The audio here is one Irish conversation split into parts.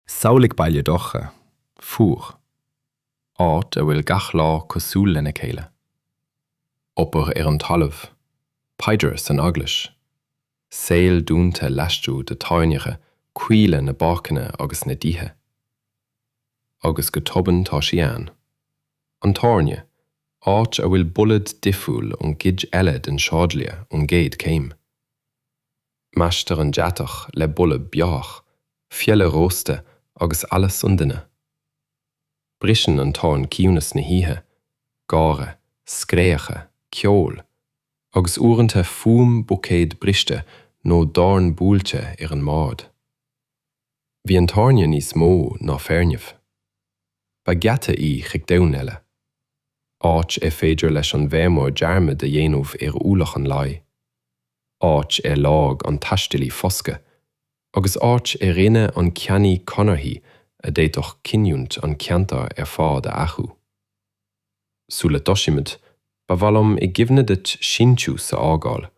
Samhlaigh baile dorcha, fuar. Áit a bhfuil gach lá cosúil lena chéile. Obair ar an talamh, paidir san eaglais, saol dúnta laistigh de theorainneacha caola na bpáirceanna agus na dtithe. Agus go tobann tá sí ann. An tábhairne, áit a bhfuil boladh difriúil ón gcuid eile den sráidbhaile ón gcéad chéim. Measctar an deatach le boladh beorach, feola rósta agus allas an duine. Briseann an torann ciúnas na hoíche, gáire, scréacha, ceol, agus uaireanta fuaim buicéad briste nó dorn buailte ar an mbord. Bhí an tábhairne níos mó ná foirgnimh. Ba gheata í chuig domhan eile. Áit ar féidir leis an bhfeirmeoir dearmad a dhéanamh ar ualach an lae. áit ar lorg an taistealaí foscadh agus áit ar rinne an ceannaí conarthaí a d'fhéadfadh cinniúint an cheantair ar fad a athrú. Sula dtosaímid, ba mhaith liom i gcuimhne duit síntiús a fhágáil,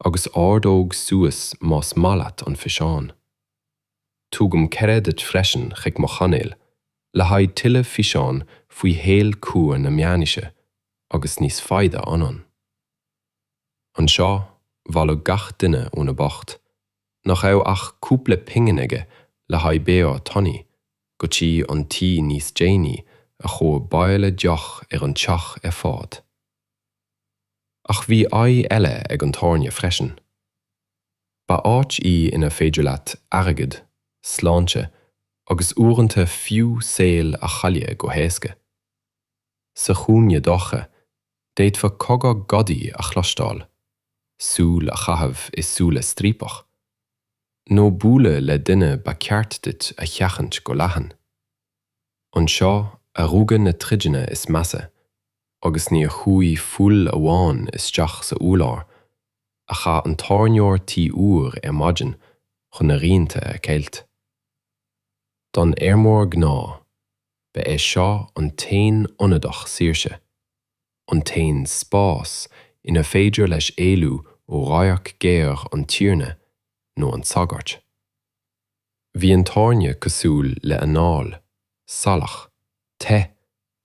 agus ordóg suas más maith leat an físeán. Tugaim cuireadh duit freisin chuig mo chainéil le haghaidh tuilleadh físeán faoi shaol crua na meánaoise agus níos faide anonn. Anseo, bhailigh gach duine óna mbocht, nach raibh ach cúpla pingin aige le haghaidh beoir tanaí, go dtí an tí níos déanaí a chuaigh baill a deoch ar an teach ar fad. Ach bhí aghaidh eile ag an tábhairne freisin. Ba áit í inar féidir leat airgead, sláinte agus uaireanta fiú saol a chailleadh go héasca. Sa chúinne dorcha, D'fhéadfá cogar gadaí a chloisteáil, súil a chaitheamh i súile striapach, nó bualadh le duine ba ceart duit a sheachaint go leathan. Anseo a rugadh na troideanna is measa agus níor chuaigh fuil amháin isteach sa urlár a chaith an tábhairneoir tuí úr ar maidin chun a rianta a cheilt. Don fheirmeoir gnáth. Ba é seo an t-aon ionadach saoirse, an t-aon spás inar féidir leis éalú ó radharc géar an tiarna nó an tsagairt. Bhí an tábhairne cosúil le anáil, salach, te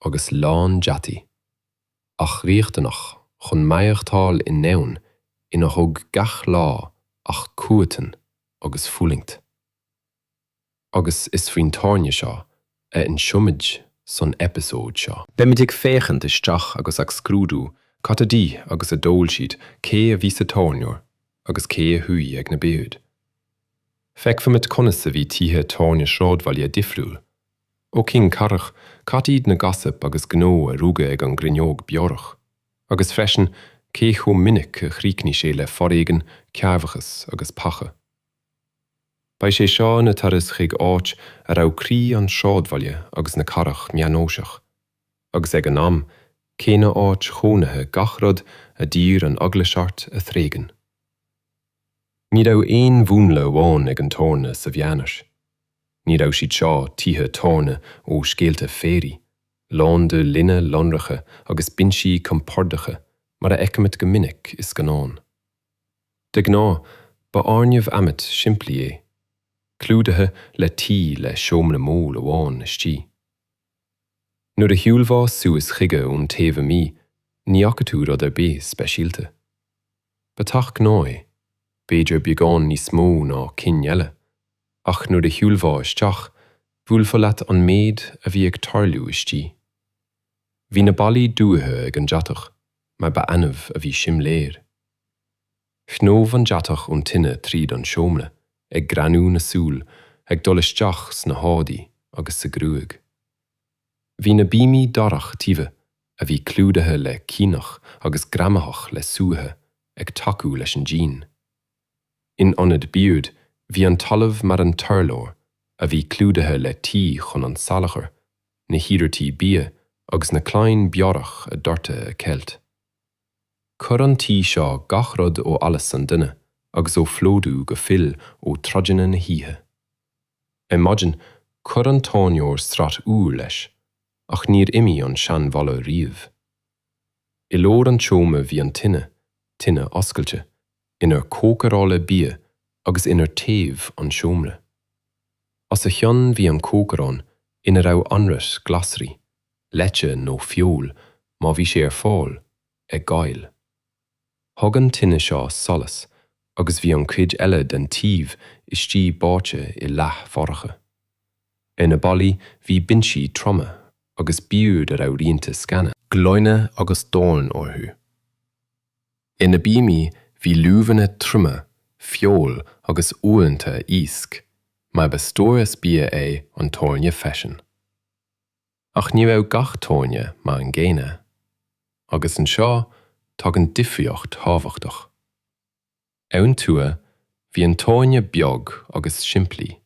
agus lán deataí, ach riachtanach chun maireachtáil i ndomhan inar thug gach lá ach cruatan agus fulaingt. agus is faoin tábhairne seo a inseoimid san eipeasóid seo. Beimid ag féachaint isteach agus ag scrúdú cad a d'ith agus a d'ól siad, cé a bhí sa tábhairneoir agus cé a shuí ag na boird. Feicfimid conas a bhí tithe tábhairne sráidbhaile difriúil ó chinn chathrach, cad iad na gossip agus gnó a rugadh ag an gcruinneog beorach, agus freisin cé chomh minic a chríochnaigh sé le foréigean, cearrbhachas agus peaca. Beidh sé seo ina turas chuig áit a raibh croí an sráidbhaile agus na cathrach meánaoiseach, agus ag an am céanna áit chónaithe gach rud a d'iarr an Eaglais ort a thréigean. Ní raibh aon mhúnla amháin ag an tábhairne sa mheánaois. Ní raibh siad seo tithe tábhairne ó scéalta féaraigh, lán de linne lonracha agus binsí compordacha mar a fheicimid go minic i scannáin. De ghnáth, ba fhoirgneamh adhmaid simplí é, clúdaithe le tuí le seomra mór amháin istigh. Nuair a shiúlfá suas chuige ón taobh amuigh, ní fhaca tú rud ar bith speisialta. Ba teach gnáth é, b'fhéidir beagán níos mó ná cinn eile, ach nuair a shiúlfá isteach, bhuailfeadh leat an méid a bhí ag tarlú istigh. Bhí na ballaí dúite ag an deatach, mar ba annamh a bhí simléir. Shnámh an deatach ón tine tríd an seomra, ag greannú na súl, ag dul isteach sna héadaí agus sa gruaig. Bhí na bíomaí darach tiubha, a bhí clúdaithe le caonach agus greamaitheach le súiche, ag tacú leis an díon. In ionad bord, bhí an talamh mar an t-urlár, a bhí clúdaithe le tuí chun an salachar, na hiarrataí bia agus na clainn beorach a doirteadh a cheilt. Chuir an tuí seo gach rud ó allas an duine agus ó phlódú go fuil ó troideanna na hoíche. Ar maidin, chuir an tábhairneoir sraith úr leis, ach níor imigh an seanbholadh riamh. I lár an tseomra bhí an tine, tine oscailte, inar cócaráileadh bia agus inar téamh an seomra. Os a chionn bhí an cócaireán ina raibh anraith glasraí, leite nó feoil má bhí sé ar fáil, ag gail. Thug an tine seo solas agus bhí an chuid eile den taobh istigh báite i leath-dhorcha. Ar na ballaí bhí binsí troma agus boird a raibh rianta sceana, gloine agus doirn orthu. Ar na bíomaí bhí luibheanna troma, feoil agus uaireanta iasc, mar ba stóras bia é an tábhairne freisin. Ach ní raibh gach tábhairne mar an gcéanna. Agus anseo tagann difríocht thábhachtach. Ar an tuath bhí an tábhairne beag agus simplí.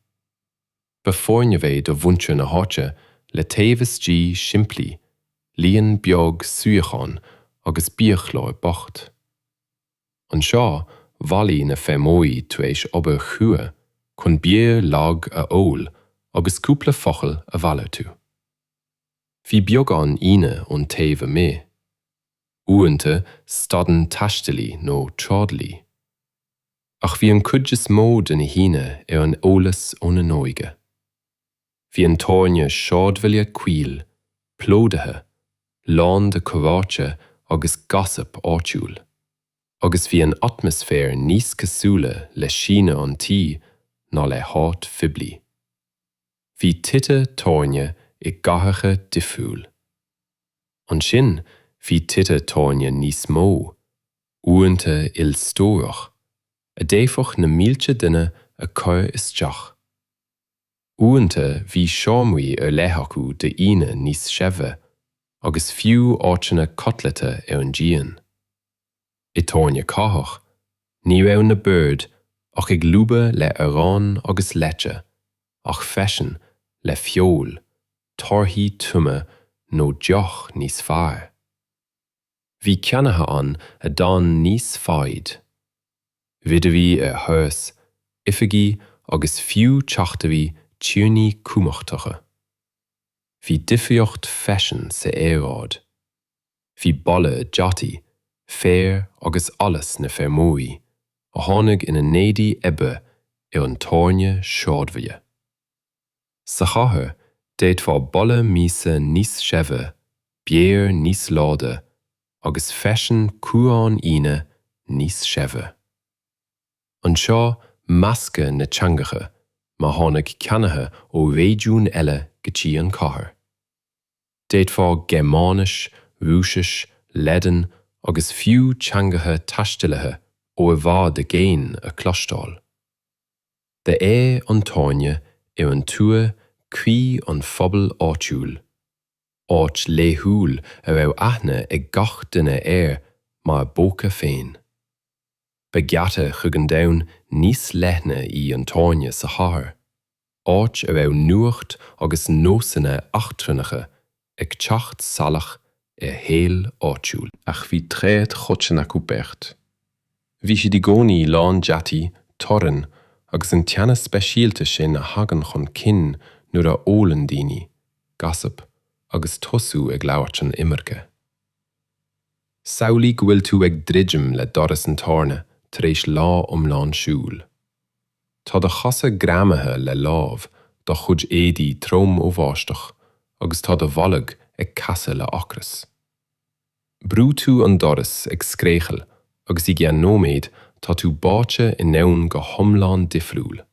Ba foirgneamh é do mhuintir na háite le taobh istigh simplí, líon beag suíochán agus biachlár bocht. Anseo bhailigh na feirmeoirí tar éis obair chrua chun beoir lag a ól agus cúpla focal a mhalartú. Bhí beagán aíonna ón taobh amuigh. Uaireanta stadann taistealaí nó trádailí. ach bhí an cuid is mó de na haíonna ar an eolas óna n-óige. Bhí an tábhairne sráidbhaile caol, plódaithe, lán de chomhráite agus gossip áitiúil, agus bhí an atmaisféar níos cosúla le síneadh an tí ná le háit phoiblí. Bhí tithe tábhairne i gcathracha difriúil. Ansin bhí tithe tábhairne níos mó. uaireanta ilstórach a d'fhéadfadh na mílte duine a chur isteach. Uaireanta bhí seomraí ar leith acu d'aíonna níos saibhre agus fiú áiteanna codlata ar an díon. I dtábhairne cathrach ní raibh na boird ach ag lúbadh le arán agus leite ach freisin le feoil, torthaí triomaigh nó deoch níos fearr. Bhí ceannaithe ann a d'fhan níos faide. Ridirí ar thuras, oifigigh agus fiú teachtairí tiarnaí cumachtacha. Bhí difríocht freisin sa aeráid. Bhí boladh deataí, féir agus allas na feirmeoirí a tháinig ina n-éadaí oibre ar an tábhairne sráidbhaile. Sa chathair, d'fhéadfá boladh miasa níos saibhre, beoir níos láidre agus freisin cumhrán aíonna níos saibhre. Anseo, meascadh na teangacha má tháinig ceannaithe ó réigiún eile go dtí an chathair. D'fhéadfá Gearmáinis, Rúisis, Laidin agus fiú teangacha taistealaithe ó i bhfad i gcéin a chloisteáil. Ba é an tábhairne ar an tuath croí an phobail áitiúil, áit laethúil a raibh aithne ag gach duine air mar a bpóca féin. Ba gheata chuig an domhan níos leithne í an tábhairne sa chathair, áit a raibh nuacht agus nósanna eachtrannacha ag teacht salach ar shaol áitiúil. Ach bhí tréith choiteann acu beirt. Bhí siad i gcónaí lán deataigh, torainn agus an teannas speisialta sin a thagann chun cinn nuair a ólann daoine, gossip agus tosú ag labhairt an iomarca. Samhlaigh go bhfuil tú ag druidim le doras an tábhairne tar éis lá iomlán siúil. Tá do chosa greamaithe le láib, do chuid éadaí trom ó bháisteach agus tá do bholg ag casadh le hocras. Brúnn tú an doras ag scréachaíl agus i gceann nóiméad tá tú báite i ndomhan go hiomlán difriúil.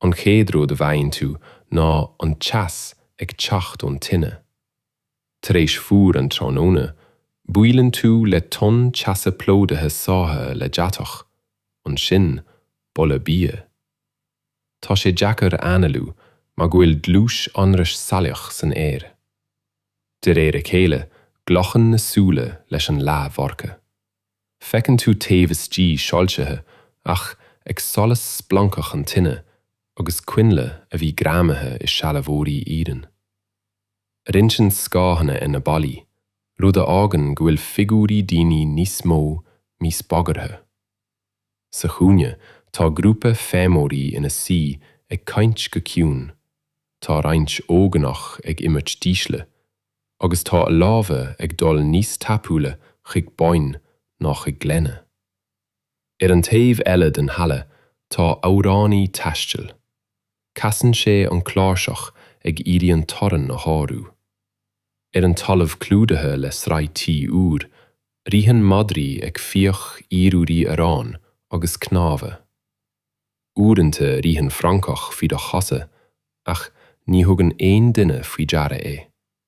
An chéad rud a bhfaigheann tú ná an teas ag teacht ón tine. Tar éis fuar an tráthnóna, buaileann tú le tonn teasa plódaithe sáithe le deatach, ansin boladh bia. Tá sé deacair a análú mar go bhfuil dlús anraith salach san aer. De réir a chéile glacann na súile leis an leathdhorcha. Feiceann tú taobh istigh soilsithe ach ag solas splancach an tine agus coinnle a bhí greamaithe i sealbhóirí iarainn. Rinceann scáthanna ar na ballaí, rud a fhágann go bhfuil figiúirí daoine níos mó níos bagarthaí. Sa chúinne tá grúpa feirmeoirí ina suí ag caint go ciúin, tá roinnt óganach ag imirt dísle, agus tá a lámha ag dul níos tapúla chuig boinn ná chuig gloine. Ar an taobh eile den halla tá amhránaí taistil. Casann sé an cláirseach ag iarraidh an torann a shárú. Ar an talamh clúdaithe le sraith tuí úr, ritheann madraí ag fiach blúirí aráin agus cnámha. Uaireanta ritheann francach faoi do chosa ach ní thugann aon duine faoi deara é.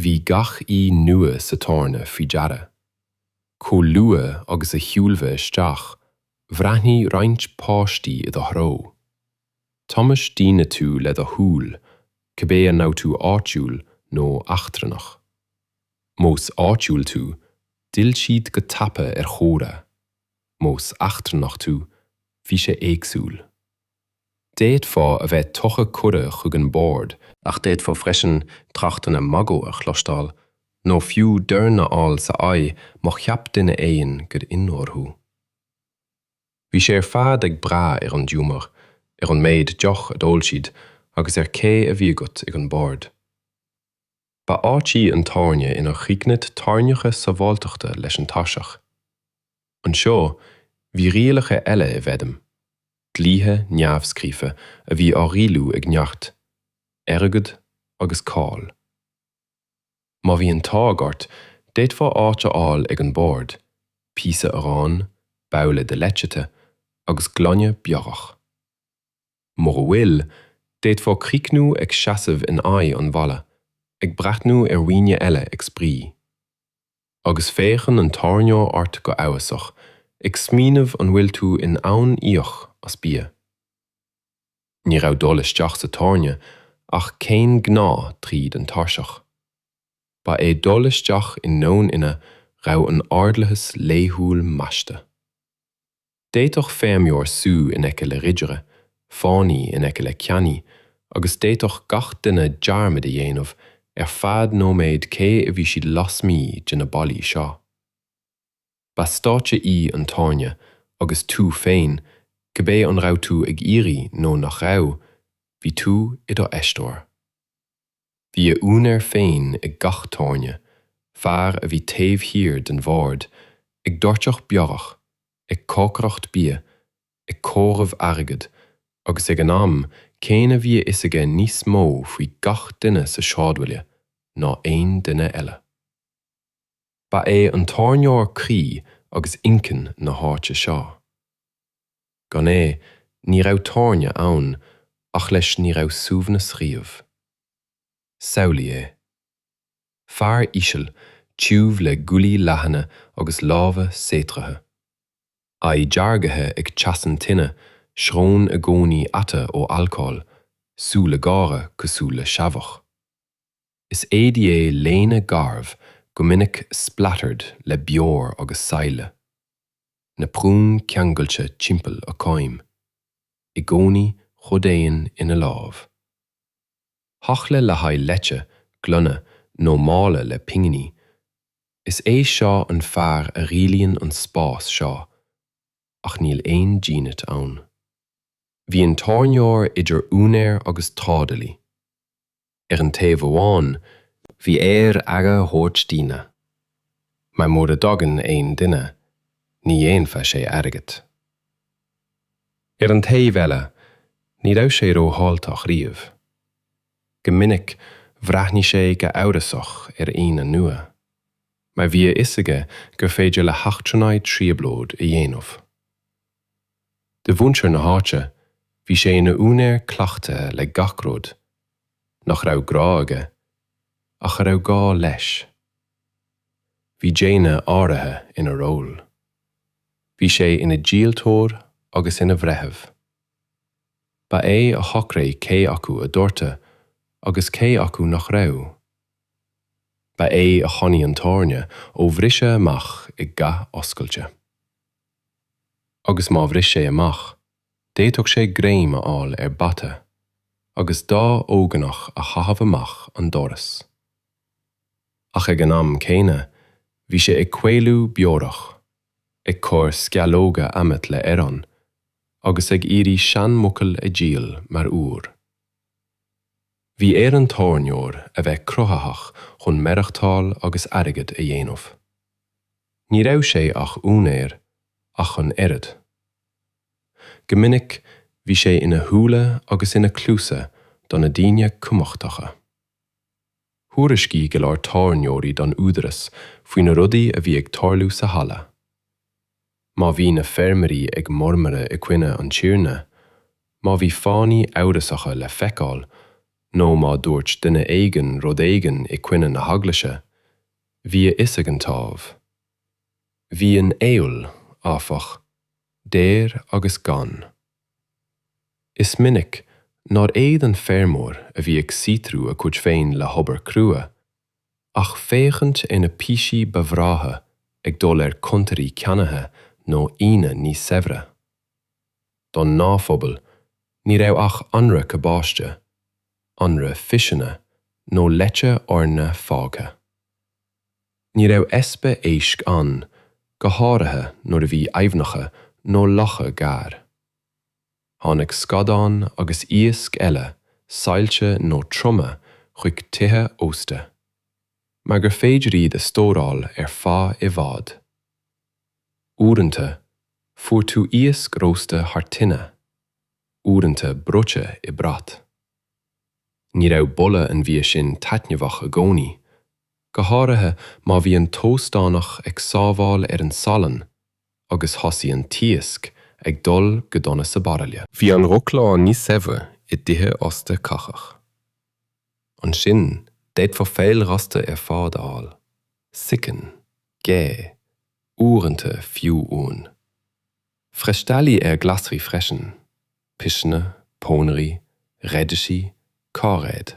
Bhí gach aoi nua sa tábhairne faoi deara. Chomh luath agus a shiúlfá isteach, bhreathnaigh roinnt páistí i do threo. Thomhais daoine tú le do shúil, cibé an raibh tú áitiúil nó eachtrannach. Más áitiúil tú, d'fhill siad go tapa ar chomhrá. Más eachtrannach tú, bhí sé éagsúil. D'fhéadfá a bheith tugtha cuireadh chuig an bord, ach d'fhéadfá freisin tráchtanna magaidh a chloisteáil nó fiú doirn a fháil san aghaidh má cheap duine éigin gur ionróir thú. Bhí sé ar fad ag brath ar an giúmar, ar an méid deoch a d'ól siad agus ar cé a bhí agat ag an bord. Ba áit í an tábhairne inar chríochnaigh ráthaíochtaí sábháilteachta leis an tairseach. Anseo, bhí rialacha eile i bhfeidhm, dlíthe neamhscríofa a bhí á rialú ag neart, airgead agus cáil. Má bhí an t-ádh ort, d'fhéadfá áit a fháil ag an bord, píosa aráin, babhla de leite te agus gloine beorach. Mura bhfuil, d'fhéadfá críochnú ag seasamh in aghaidh an bhalla, ag breathnú ar dhaoine eile ag spraoi. Agus féachann an tábhairneoir ort go amhrasach, ag smaoineamh an bhfuil tú in ann íoc as bia. Ní raibh dul isteach sa tábhairne ach céim ghnáth tríd an tairseach. Ba é dul isteach i ndomhan ina raibh an t-ordlathas laethúil measctha. D'fhéadfadh feirmeoir suí in aice le ridire, fánaí in aice le ceannaí, agus d'fhéadfadh gach duine dearmad a dhéanamh ar feadh nóiméid cé a bhí siad lasmuigh de na ballaí seo. Ba stáitse í an tábhairne agus tú féin, cibé an raibh tú ag iarraidh nó nach raibh, bhí tú i do aisteoir. Bhí a úinéir féin ag gach tábhairne, fear a bhí taobh thiar den bhord ag doirteadh beorach, ag cócaireacht bia, ag comhaireamh airgid, agus ag an am céanna bhí a fhios aige níos mó faoi gach duine sa sráidbhaile ná aon duine eile. Ba é an tábhairneoir croí agus inchinn na háite seo. Gan é ní raibh tábhairne ann ach leis ní raibh suaimhneas riamh. Samhlaigh é. Fear íseal, tiubh le guaillí leathana agus lámha saothraithe. Aghaidh deargaithe ag teas an tine, srón i gcónaí ata ó alcól, súile géara cosúil le seabhach. Is éadaí é léine garbh go minic splattered le beoir agus saille. Naprún ceangailte timpeall a coim, i gcónaí coimeádann ina lámh. babhla le haghaidh leite, gloine nó mála le pinginí, is é seo an fear a rialaíonn an spás seo, ach níl aon dínit ann. Bhí an tábhairneoir idir úinéir agus trádalaí. Ar an taobh amháin, bhí air aire a thabhairt d'aíonna, mar mura dtagann aon duine, ní dhéanfadh sé airgead. Ar an taobh eile, ní raibh sé rófháilteach riamh. Go minic, bhreathnaigh sé go amhrasach ar aíonna nua, mar bhí a fhios aige gur féidir le heachtrannaigh trioblóid a dhéanamh. de mhuintir na háite, bhí sé ina úinéir cleachtaithe le gach rud, nach raibh grá aige, ach a raibh gá leis. Bhí déine áirithe ina ról. Bhí sé ina dhíoltóir agus ina bhreitheamh. Ba é a shocraigh cé acu a doirteadh agus cé acu nach raibh. Ba é a choinnigh an tábhairne ó bhriseadh amach i gcath oscailte. agus má bhris sé amach, d'fhéadfadh sé greim a fháil ar bhata agus dhá óganach a chaitheamh amach an doras. Ach ag an am céanna, bhí sé ag caolú beorach, ag cur sceallóga adhmaid le arán, agus ag iarraidh seanmhuiceoil a dhíol mar úr. Bhí ar an tábhairneoir a bheith cruthaitheach chun maireachtáil agus airgead a dhéanamh. Ní raibh sé ach úinéir ach an oiread. Go minic bhí sé ina shúile agus ina chluasa do na daoine cumhachtacha. Thuairiscigh go leor tábhairneoirí don údarás faoi na rudaí a bhí ag tarlú sa halla. Má bhí na feirmeoirí ag mormaradh i gcoinne an Tiarna, má bhí fánaithe amhrasacha le feiceáil, nó má dúirt duine éigin rud éigin i gcoinne na hEaglaise, bhí a fhios ag an támh. Bhí an fheoil, áfach, daor agus gann. Is minic nár fhéad an feirmeoir a bhí ag saothrú a chuid féin le hobair crua, ach féachaint ar na píosaí ba bhreátha ag dul ar chuntairí ceannaithe nó aíonna níos saibhre. Don ngnáthphobal, ní raibh ach anraith cabáiste, anraith piseanna nó leite eorna fágtha. Ní raibh easpa éisc ann, go háirithe nuair a bhí aibhneacha nó locha gar. Tháinig scadáin agus iasc eile saillte nó triomaithe chuig tithe ósta, mar gur féidir iad a stóráil ar feadh i bhfad. Uaireanta, fuair tú iasc rósta thar tine, uaireanta bruite i mbrat. Ní raibh boladh an bhia sin taitneamhach i gcónaí, go háirithe má bhí an t-óstánach ag sábháil ar an salann agus thosaigh an t-iasc ag dul go dona sa baraille. Bhí an roghchlár níos saibhre i dtithe ósta cathrach. Ansin d'fhéadfá feoil rósta ar fad a fháil, sicín, gé, uaireanta fiú uan. Freastalaíodh ar ghlasraí freisin, piseanna, pónairí, raidisí, cairéid.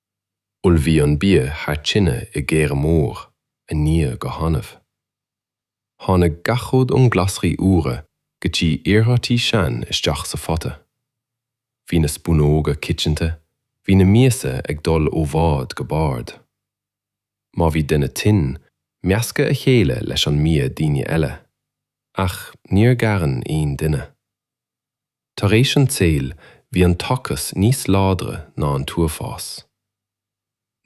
Ullmhaíodh an bia thar tine i gcoire mór a níodh go hannamh. Tháinig gach rud ón glasraí úra go dtí iarmhairtí sean isteach sa phota. Bhí na spúnóga coitianta, bhí na miasa ag dul ó bhord go bord. Má bhí duine tinn, meascadh a sheile leis an mbia daoine eile, ach níor ghearán aon duine. Tar éis an tsaoil, bhí an t-ocras níos láidre ná an t-uafás.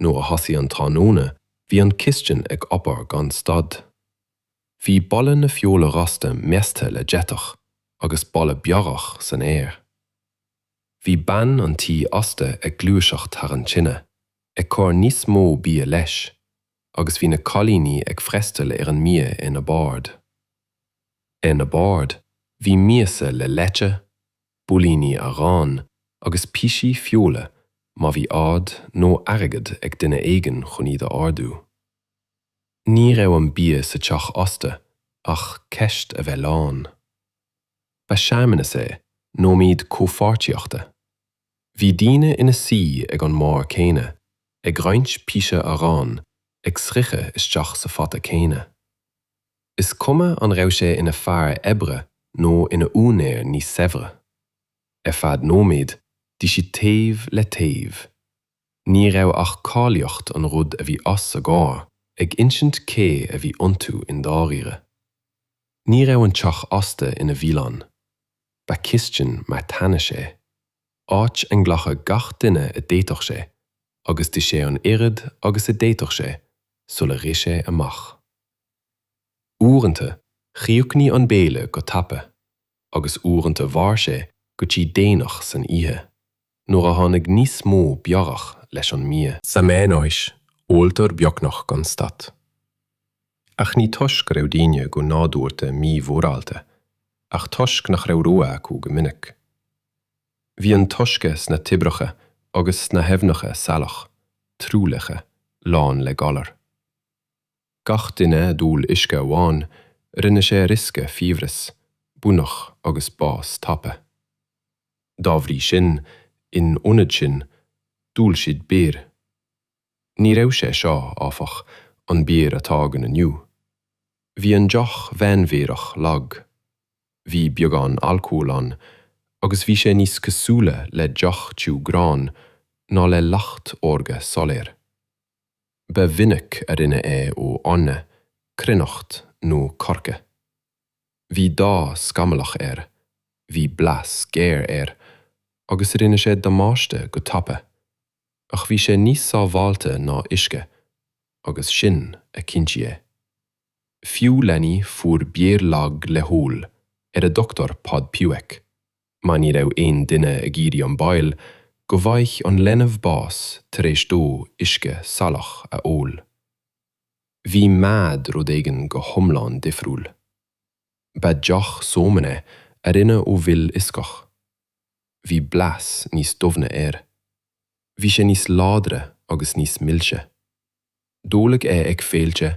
Nuair a thosaigh an tráthnóna, bhí an chistin ag obair gan stad. Bhí boladh na feola rosta measctha le deatach agus boladh beorach san aer. Bhí bean an tí ósta ag gluaiseacht thar an tine, ag cur níos mó bia leis, agus bhí na cailíní ag freastal ar an mbia ar na boird. Ar na boird bhí miasa le leite, builíní aráin agus píosaí feola má bhí ór nó airgead ag duine éigin chun iad a ordú. Ní raibh an bia sa teach ósta ach ceist a bheith lán. Ba searmanas é, nóiméad comhpháirtíochta. Bhí daoine ina suí ag an mbord céanna, ag roinnt píosa aráin, ag sroicheadh isteach sa phota céanna. is cuma an raibh sé ina fear oibre nó ina úinéir níos saibhre. Ar feadh nóiméid, bhí siad taobh le taobh. Ní raibh ach cáilíocht an rud a bhí os a gcomhair ag insint cé a bhí iontu i ndáiríre. Ní raibh an teach ósta ina bhialann. Ba chistin marthanais é. áit a nglacadh gach duine a d'fhéadfadh sé agus d'ith sé an oiread agus a d'fhéadfadh sé sula rith sé amach. Uaireanta, chríochnaigh an béile go tapa agus uaireanta mhair sé go dtí déanach san oíche, nuair a tháinig níos mó beorach leis an mbia. Sa meánaois, óltar beagnach gan stad. Ach ní toisc go raibh daoine go nádúrta mímhórálta, ach toisc nach raibh rogha acu go minic. Bhí an t-uisce sna toibreacha agus sna haibhneacha salach, truaillithe, lán le galar. Gach duine a d'ól uisce amháin, rinne sé riosca fiabhras, buinneach agus bás tapa. Dá bhrí sin, in ionad sin, d'ól siad beoir. Ní raibh sé seo, áfach, an beoir atá againn inniu. Bhí an deoch mheánbheorach lag, bhí beagán alcóil ann agus bhí sé níos cosúla le deoch tiubh gráin ná le leacht órga soiléir. Ba mhinic a rinneadh é ó eorna, cruithneacht nó coirce. Bhí dath scamallach air, bhí blas géar air agus rinne sé damáiste go tapa. Ach bhí sé níos sábháilte ná uisce, agus sin a chinntigh é. Fiú leanaí fuair beoir lag le hól ar a dtugtar Podpiwek, mar ní raibh aon duine ag iarraidh an baol go bhfaigheadh an leanbh bás tar éis dó uisce salach a ól. Bhí mead rud éigin go hiomlán difriúil. Ba deoch sómana a rinneadh ó mhil fhioscach. Bhí blas níos doimhne air. Bhí sé níos láidre agus níos milse. D'óladh é ag féilte,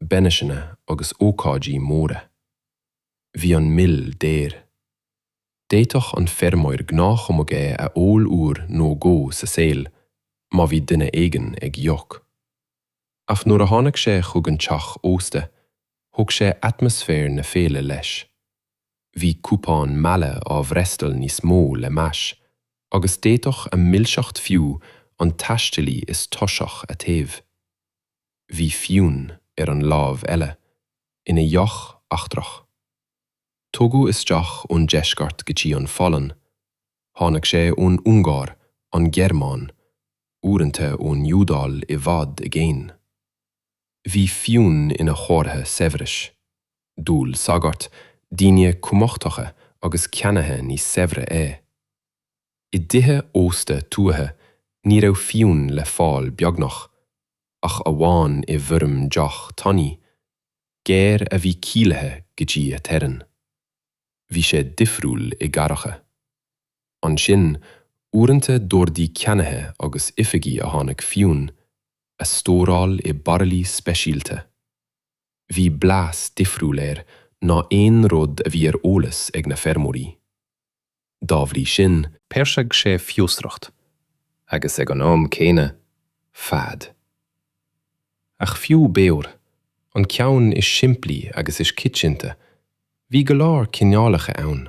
bainisseanna agus ócáidí móra. Bhí an mil daor. D'fhéadfadh an feirmeoir gnáthchumadh é a ól uair nó dhó sa saol má bhí duine éigin ag íoc. Ach nuair a tháinig sé chuig an teach ósta, thug sé atmaisféar na féile leis. Bhí cupán meala á bhfreastal níos mó le meas, agus d'fhéadfadh a milseacht fiú an taistealaí is tuirseach a théamh. Bhí fíon ar an láimh eile, ina dheoch eachtrach. Tugadh isteach ón deisceart go dtí an Pholainn, Tháinig sé ón Ungáir, an Ghearmáin, uaireanta ón Iodáil i bhfad i gcéin. Bhí fíon ina chomhartha saibhris, d'ól sagairt, daoine cumachtacha agus ceannaithe níos saibhre é. I dtithe ósta tuaithe ní raibh fíon le fáil beagnach, ach amháin i bhfoirm deoch tanaí, géar a bhí caolaithe go dtí a teorainn. bhí sé difriúil i gcathracha. Ansin, uaireanta d'ordaigh ceannaithe agus oifigigh a tháinig fíon a stóráil i baraillí speisialta. Bhí blas difriúil air ná aon rud a bhí ar eolas ag na feirmeoirí. dá bhrí sin, peirsigh sé fiosracht agus ag an am céanna fad ach fiú beoir, an ceann is simplí agus is coitianta, bhí go leor cineálacha ann.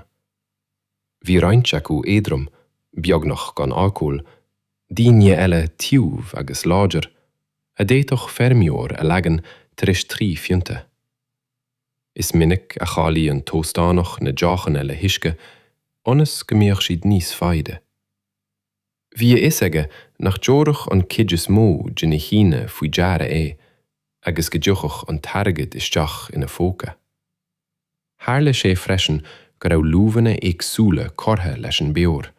Bhí roinnt acu éadrom, beagnach gan alcól, daoine eile tiubh agus láidir, a d'fhéadfadh feirmeoir a leagan tar éis trí phionta. Is minic a chaolaigh an t-óstánach na deochanna le huisce ionas go mbeadh siad níos faide. Bhí a fhios aige nach dtabharfadh an cuid is mó de na haíonna faoi deara é agus go dtiocfadh an t-airgead isteach ina phóca. Tharla sé freisin go raibh luibheanna éagsúla curtha leis an beoir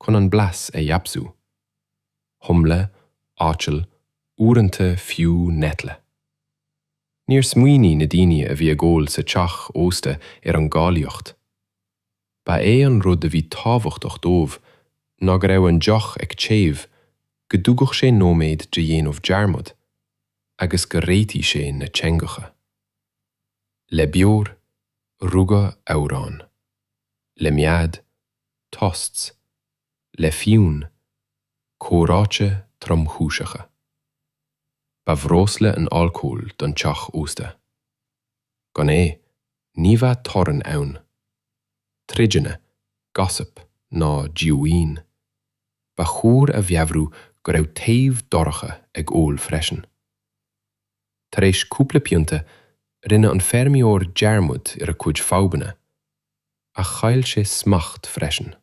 chun an blas a fheabhsú, humle, aiteal, uaireanta fiú Nettle. Níor smaoinigh na daoine a bhí ag ól sa teach ósta ar an gcáilíocht. Ba é an rud a bhí tábhachtach dóibh ná go raibh an deoch ag téamh, go dtugadh sé nóiméad de dhéanamh dearmad agus go réitigh sé na teangacha. Le beoir, rugadh amhráin. Le mead, toasts. Le fíon, comhráite tromchúiseacha. Ba bhreosla an alcól don teach ósta. Gan é, ní bheadh torann ann. Troideanna, gossip ná díomhaoin. Ba chóir a mheabhrú go raibh taobh dorcha ag ól freisin. Tar éis cúpla pionta, rinne an feirmeoir dearmad ar a chuid fadhbanna. Ach chaill sé smacht freisin.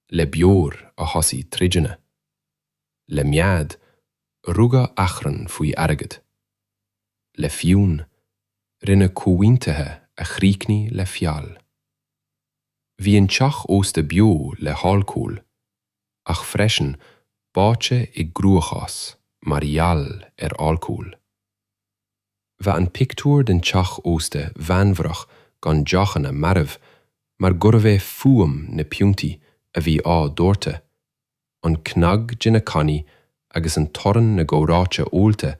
Le beoir a thosaigh troideanna. le mead, rugadh achrann faoi airgead, le fíon, rinneadh comhaontuithe a chríochnaigh le feall. Bhí an teach ósta beo le halcól, ach freisin báite i gcruachás mar gheall ar alcól. Bheadh an pictiúr den teach ósta mheanmharach gan deochanna marbh mar gurbh é fuaim na piontaí a bhí á doirteadh an cnag de na cannaí agus an torann na gcomhráite ólta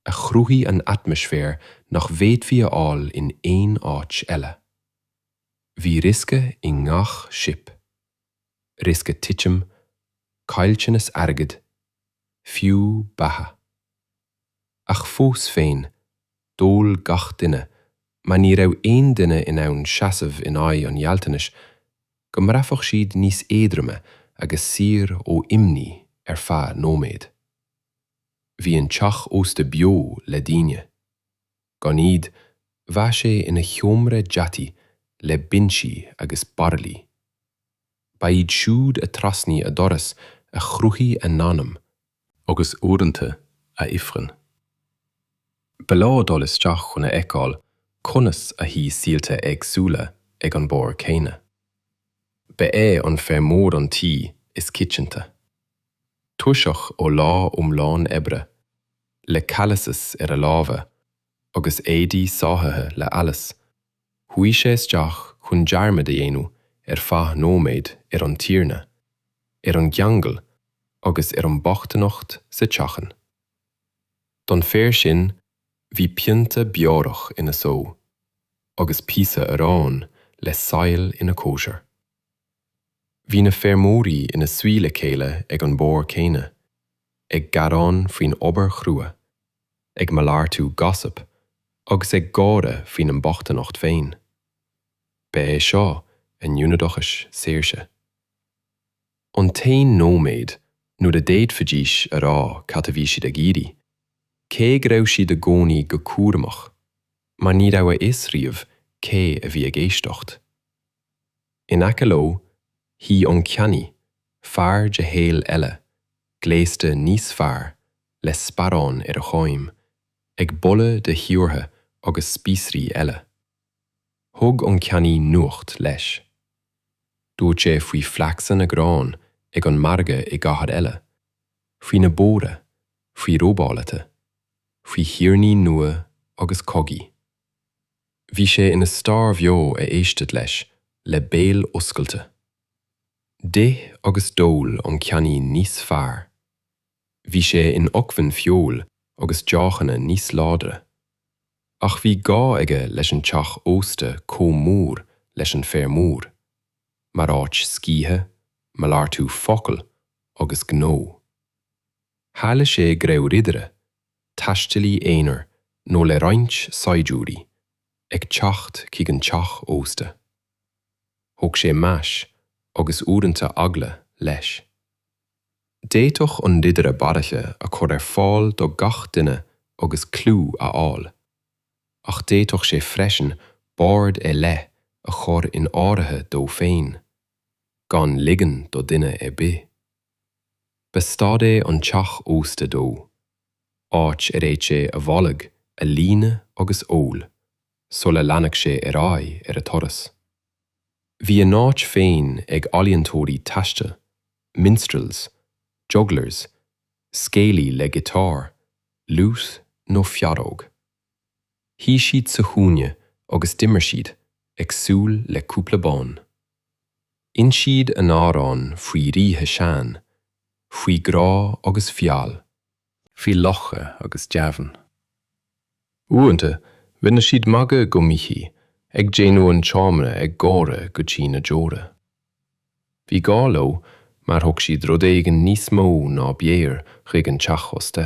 a chruthaigh an atmaisféar nach bhféadfaí a fháil in aon áit eile. Bhí riosca i ngach sip. Riosca titim, caillteanas airgid, fiú beatha. Ach fós féin, D'ól gach duine, mar ní raibh aon duine in ann seasamh in aghaidh an ghealltanais go mbraithfeadh siad níos éadroime agus saor ó imní ar feadh nóiméad. Bhí an teach ósta beo le daoine. Gan iad, bheadh sé ina sheomra deataigh le binsí agus bairillí. Ba iad siúd a thrasnaigh a doras a chruthaigh a n-anam. agus uaireanta a ifreann. Ba leor dul isteach chun a fheiceáil conas a shuigh saolta éagsúla ag an mbord céanna. Ba é an feirmeoir an t-aoi is coitianta. Tuirseach ó lá iomlán oibre, le calluses ar a lámha agus éadaí sáithithe le allas, chuaigh sé isteach chun dearmad a dhéanamh ar feadh nóiméid ar an tiarna, ar an gceangal agus ar an bhochtaineacht sa teachín. Don fear sin, bhí pionta beorach ina shó agus píosa aráin le saill ina chóisir. Bhí na feirmeoirí ina suí le chéile ag an mbord céanna, ag gearán faoin obair chrua, ag malartú 'gossip' agus ag gáire faoina mbochtaineacht féin. Ba é seo a n-ionad saoirse. An t-aon nóiméad nuair a d'fhéadfaidís a rá cad a bhí siad ag iarraidh, cé go raibh siad i gcónaí go cúramach mar ní raibh a fhios riamh cé a bhí ag éisteacht. In aice leo shuigh an ceannaí, fear de shaol eile, gléasta níos fearr, le sparán ar a choim, ag boladh de phiobar agus spíosraí eile. Thug an ceannaí nuacht leis. Dúirt sé faoi phraghas na ngrán ag an margadh i gcathair eile, faoi na bóithre, faoi robálaithe, faoi thiarnaí nua agus cogaí. Bhí sé ina stair bheo a éistítí leis le béal oscailte. D'ith agus d'ól an ceannaí níos fearr. Bhí sé in acmhainn feoil agus deochanna níos láidre. Ach bhí gá aige leis an teach ósta comh mór leis an feirmeoir, mar áit scíthe, malartú focal agus gnó. Tharlaíodh sé go raibh ridire, taistealaí aonair nó le roinnt saighdiúirí, ag teacht chuig an teach ósta. Thug sé meas, agus uaireanta eagla, leis. D'fhéadfadh an ridire baraille a chur ar fáil do gach duine agus clú a fháil, ach d'fhéadfadh sé freisin bord ar leith a chur in áirithe dó féin, gan ligean do dhuine ar bith. Ba stad é an teach ósta dó, áit ar fhéad sé a bholg a líonadh agus ól sula leanfadh sé ar aghaidh ar a thuras. Bhí a n-áit féin ag ealaíontóirí taistil, minstrels, jugglers, scéalaí le giotár, lute nó feadóg. Shuigh siad sa chúinne agus d'imir siad ag súil le cúpla bonn. D'inis siad a n-amhráin faoi ríthe sean, faoi ghrá agus feall. faoi laochra agus deamhain. Uaireanta, rinne siad magadh go míchuí, ag déanamh an tseomra ag gáire go dtí na deora. Bhí gá leo mar thug siad rud éigin níos mó ná beoir chuig an teach ósta.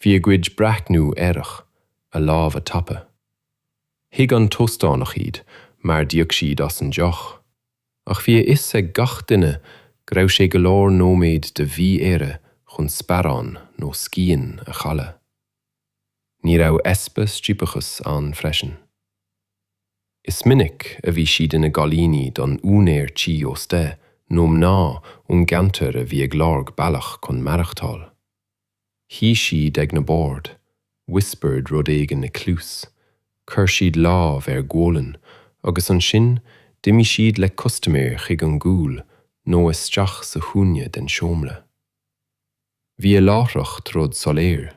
Bhí a gcuid breathnú aerach, a lámha tapa. Thuig an t-óstánach iad mar d'íoc siad as an deoch, ach bhí a fhios ag gach duine go raibh sé go leor nóiméad de mhí-aire chun sparán nó scian a chailleadh. Ní raibh easpa striapachas ann freisin. Is minic a bhí siad ina gcailíní don úinéir tí ósta nó mná ón gceantar a bhí ag lorg bealach chun maireachtáil. Shuigh siad ag na boird, whispered rud éigin i cluas, chuir siad lámh ar ghualainn agus ansin d'imigh siad le custaiméir chuig an gcúl nó isteach sa chúinne den seomra. Bhí a láithreacht rud soiléir.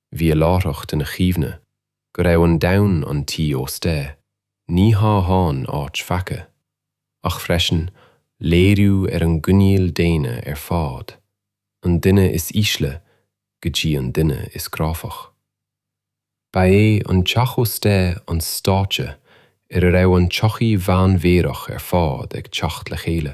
Bhí a láithreacht ina chuimhne go raibh an domhan an tí ósta ní hamháin áit pheaca, ach freisin léiriú ar an gcoinníoll daonna ar fad, an duine is ísle go dtí an duine is cráifeach. Ba é an teach ósta an stáitse ar a raibh an tsochaí mheánmhéarach ar fad ag teacht le chéile.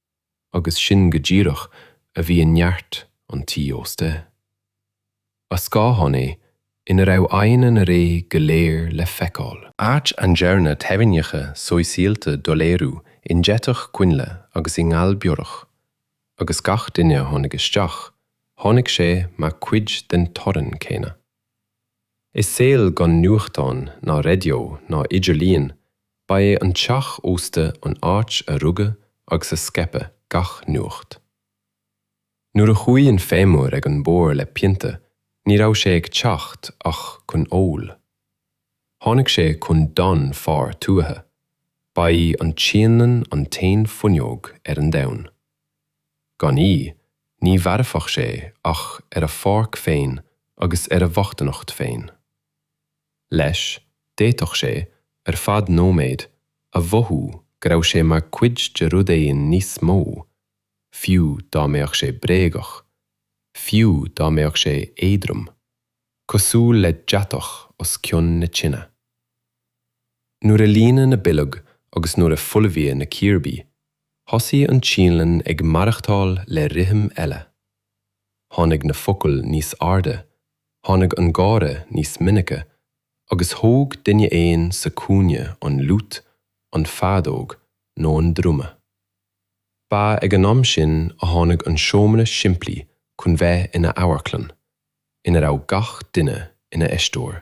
agus sin go díreach a bhí i neart an tí ósta. Ba scáthán é ina raibh aghaidheanna na ré go léir le feiceáil. Áit a ndearnadh teorainneacha sóisialta doiléiriú i ndeatach coinnle agus i ngal beorach, agus gach duine a tháinig isteach, tháinig sé mar chuid den torann céanna. I saol gan nuachtán ná raidió ná idirlíon, ba é an teach ósta an áit a rugadh agus a scaipeadh gach nuacht. Nuair a chuaigh an feirmeoir ag an mbord le pionta ní raibh sé ag teacht ach chun óil. Tháinig sé chun. Don fhear tuaithe, ba í an tsíonlann an t-aon fuinneog ar an domhan. Gan í, ní mhairfeadh sé ach ar a pháirc féin agus ar a bhochtaineacht féin. Leis, d'fhéadfadh sé, ar feadh nóiméid, a mhothú go raibh sé mar chuid de rud éigin níos mó, fiú dá mbeadh sé bréagach, fiú dá mbeadh sé éadrom, cosúil le deatach os cionn na tine. Nuair a líonadh na boilg agus nuair a folmhaíodh na círbí, thosaigh an tsíonlann ag maireachtáil le rithim eile. Tháinig na focail níos airde, tháinig an gáire níos minice, agus thóg duine éigin sa chúinne an fhliúit, an feadóg nó an druma. Ba ag an am sin a tháinig an seomra simplí chun bheith ina amharclann, ina raibh gach duine ina aisteoir.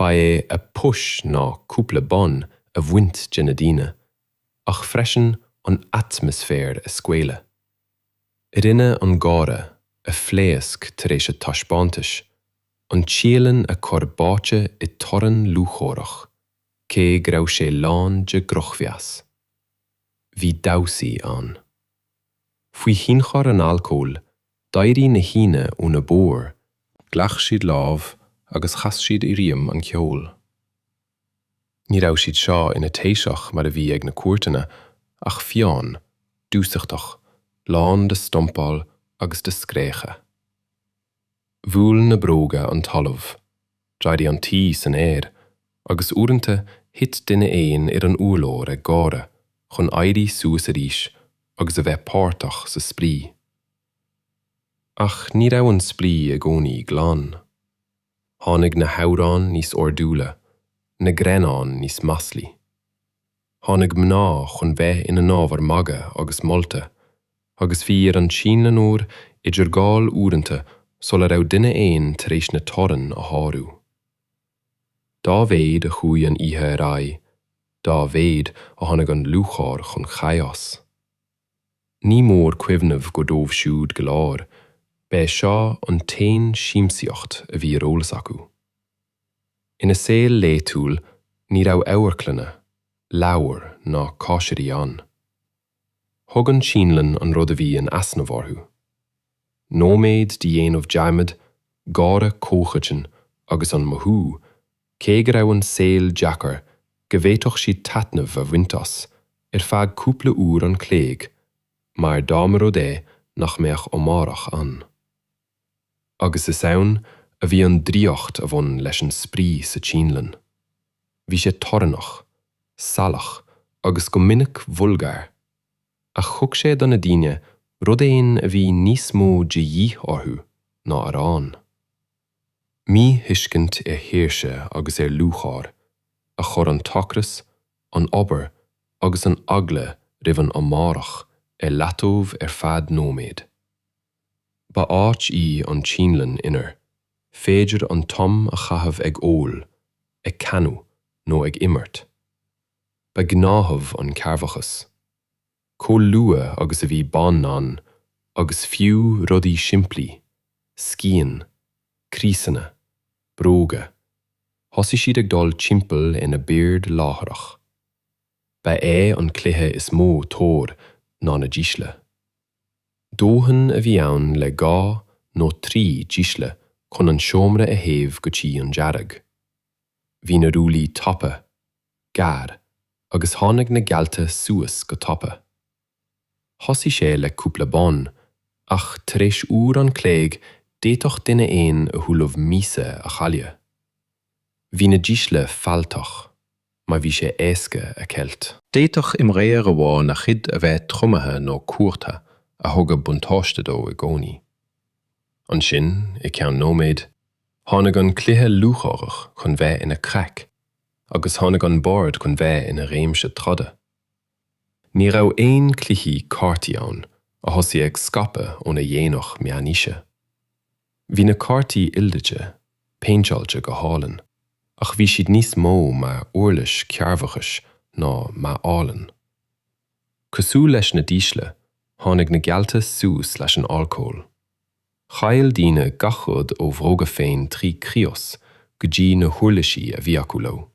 Ba é a phost ná cúpla bonn a bhaint de na daoine, ach freisin an atmaisféar a scaoileadh. Rinne an gáire, a phléasc tar éis a taispeántais, an tsíonlann a chur báite i torann lúcháireach, cé go raibh sé lán de dhrochmheas. Bhí damhsaí ann. Faoi thionchar an alcóil, d'éirigh na haíonna óna mbord, ghlac siad lámh agus chas siad i rithim an cheoil. Ní raibh siad seo ina taoiseach mar a bhí ag na cúirteanna, ach fiáin, dúsachtach, lán de stompáil agus de scréachadh. Bhuail na bróga an talamh, d'éirigh an tuí san aer, agus uaireanta thit duine éigin ar an urlár ag gáire chun éirí suas arís agus a bheith páirteach sa spraoi. Ach ní raibh an spraoi i gcónaí glan. Tháinig na hamhráin níos ordúla, na greannáin níos maslaí. tháinig mná chun bheith ina n-ábhar magaidh agus molta, agus bhí ar an tsíonlannóir idirgháil uaireanta sula raibh duine éigin tar éis na teorann a shárú. Dá mhéid a chuaigh an oíche ar aghaidh, dá mhéid a tháinig an lúcháir chun chaos. Ní mór cuimhneamh gur dóibh siúd go léir, b'é seo an t-aon siamsaíocht a bhí ar eolas acu. Ina saol laethúil ní raibh amharclanna, leabhair ná cóisirí ann. Thug an tsíonlann an rud a bhí in easnamh orthu. Nóiméad de dhéanamh dearmaid, gáire comhchoiteann agus an mothú cé go raibh an saol deacair go bhféadfadh siad taitneamh a bhaint as ar feadh cúpla uair an chloig mar dá mba rud é nach mbeadh amárach ann. agus is ann a bhí an draíocht a bhain leis an spraoi sa tSíonlann. Bhí sé torannach, salach agus go minic vulgar, ach thug sé do na daoine rud éigin a bhí níos mó de dhíth orthu ná arán. Míthuiscint ar shaoirse agus ar lúcháir a chuir an t-ocras, an obair agus an eagla roimh an amárach ar leataobh ar feadh nóiméad. Ba áit í an tsíonlann inar féidir an t-am a chaitheamh ag ól, ag canadh nó ag imirt. Ba ghnáthamh an cearrbhachas. Chomh luath agus a bhí bonn ann, agus fiú rudaí simplí, scian, criosanna, bróga, thosaigh siad ag dul timpeall ar na boird láithreach. Ba é an cluiche is mó tóir ná na dísle. Dóthain a bhí ann le dhá nó trí dísle chun an seomra a théamh go dtí an dearg. Bhí na rollaí tapa, gearr, agus tháinig na geallta suas go tapa. Thosaigh sé le cúpla bonn, ach tar éis uair an chloig d'fhéadfadh duine éigin a thuilleamh míosa a chailleadh. Bhí na dísle fealltach mar bhí sé éasca a cheilt. D'fhéadfadh imreoir amháin a chuid a bheith tromaithe nó cuartha a thugadh buntáiste dó i gcónaí. Ansin, i gceann nóiméid, tháinig an cluiche lúcháireach chun bheith ina craic agus tháinig an bord chun bheith ina réimse troda. Ní raibh aon chluichí cártaí ann a thosaigh ag scaipeadh óna dhéanach meánaoise. Bhí na cártaí ildaite, péinteáilte go hálainn, ach bhí siad níos mó mar uirlis cearrbhachais ná mar ealaín. Cosúil leis na dísle, tháinig na geallta suas leis an alcól. Chaill daoine gach rud ó bhróga féin trí crios go dtí na huirlisí a bhí acu leo.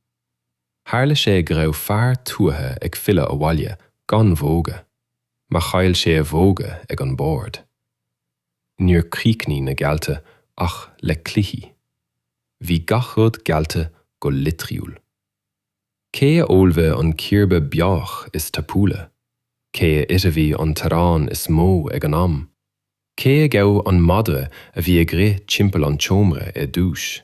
Tharla sé go raibh fear tuaithe ag filleadh abhaile gan bhróga, mar chaill sé a bhróga ag an mbord. Níor chríochnaigh na geallta ach le cluichí. Bhí gach rud geallta go litriúil. Cé a ólfaidh an cíorba beorach is tapúla? Cé a ithfidh an t-arán is mó ag an am? Cé a ghabh an madra a bhí ag rith timpeall an tseomra ar dtúis?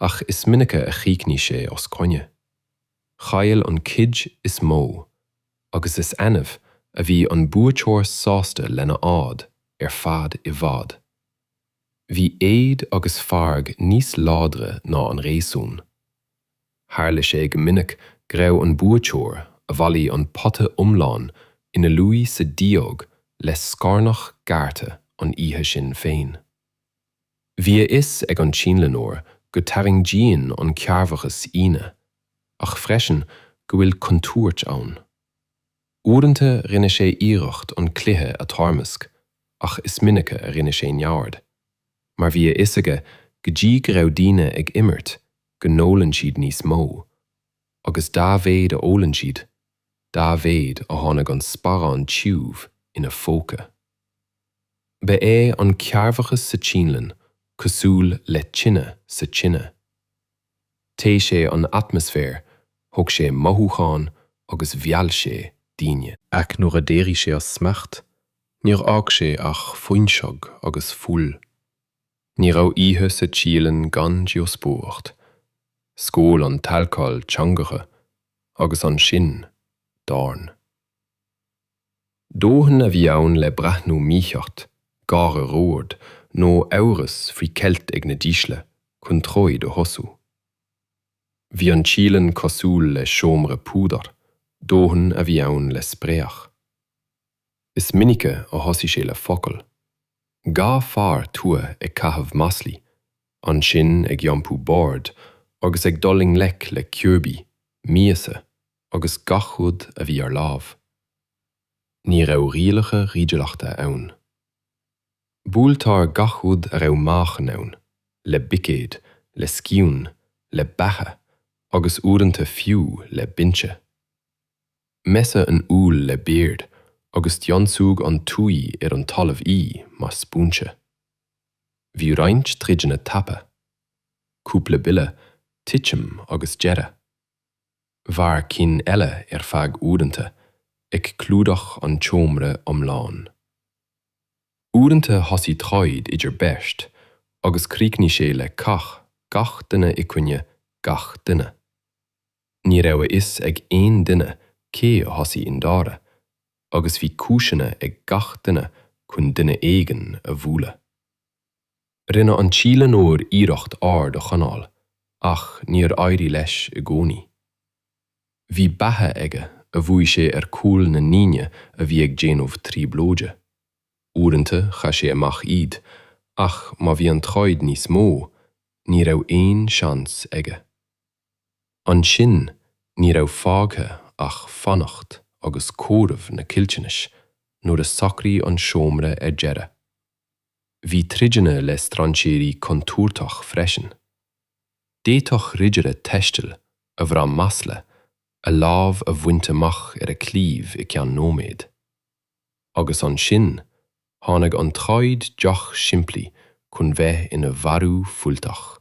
ach is minice a chríochnaigh sé os coinne. Chaill an cuid is mó, agus is annamh a bhí an buaiteoir sásta lena fhád ar fad i bhfad. Bhí éad agus fearg níos láidre ná an réasún. Tharla sé go minic go raibh an buaiteoir a bhailigh an pota iomlán ina luí sa díog le scornach gearrtha an oíche sin féin. Bhí a fhios ag an tSínleanóir go dtarraingíonn an cearrbhachas daoine, ach freisin go bhfuil contúirt ann. Uaireanta rinne sé iarracht an cluiche a toirmeasc ach is minice a rinne sé neamhaird, mar bhí a fhios aige go dtí go raibh daoine ag imirt go n-ólann siad níos mó, agus dá mhéid a ólann siad, dá mhéid a tháinig an sparán tiubh ina phóca. Ba é an cearrbhachas sa tSínelann cosúil le tine sa tine. Théigh sé an atmaisféar, thóg sé mothúcháin agus mheall sé daoine. Ach nuair a d'éirigh sé as smacht, níor fhág sé ach fuinseog agus fuil. Ní raibh oíche sa tSíolainn gan díospóireacht, scaoil an t-alcól teangacha agus ansin, dorn. Dóthain a bhí ann le breathnú mícheart, gáire ró-ard, nó amhras faoi cheilt ag na dísle chun troid a thosú. Bhí an tsíleann cosúil le seomra púdair, dóthain a bhí ann le spréach. Is minice a thosaigh sé le focal. Dhá fhear tuaithe ag caitheamh maslaí, ansin ag iompú boird agus ag dul i ngleic le ciúbí, miasa, agus gach rud a bhí ar láimh. Ní raibh rialacha ridireachta ann. Buailtear gach rud a raibh meáchan ann, le buicéad, le scian, le bata agus uaireanta fiú le binse. Meascadh an fhuil le beoir agus d'ionsúigh an tuí ar an talamh í mar spúinse. Bhí roinnt troideanna tapa. Cúpla buille, titim agus deireadh. mhair cinn eile ar feadh uaireanta, ag clúdach an tseomra iomláin. Uaireanta thosaigh troid idir beirt agus chríochnaigh sé le cath gach duine i gcoinne gach duine. Ní raibh a fhios ag aon duine cé a thosaigh i ndáiríre, agus bhí cúiseanna ag gach duine chun duine éigin a bhualadh. Rinne an tsíleanóir iarracht ord a choinneáil ach níor éirigh leis i gcónaí. Bhí bata aige a bhuail sé ar chúl na ndaoine a bhí ag déanamh trioblóide. Uaireanta chaith sé amach iad ach má bhí an troid níos mó, ní raibh aon seans aige. Ansin ní raibh fágtha ach fanacht agus comhaireamh na caillteanais nuair a shocraigh an seomra ar deireadh. Bhí troideanna le strainséirí contúirteach freisin. D'fhéadfadh ridire taistil, a bhraith masla, a lámh a bhaint amach ar a chlaíomh i gceann nóiméad. Agus ansin tháinig an troid deoch simplí chun bheith ina mharú fuilteach.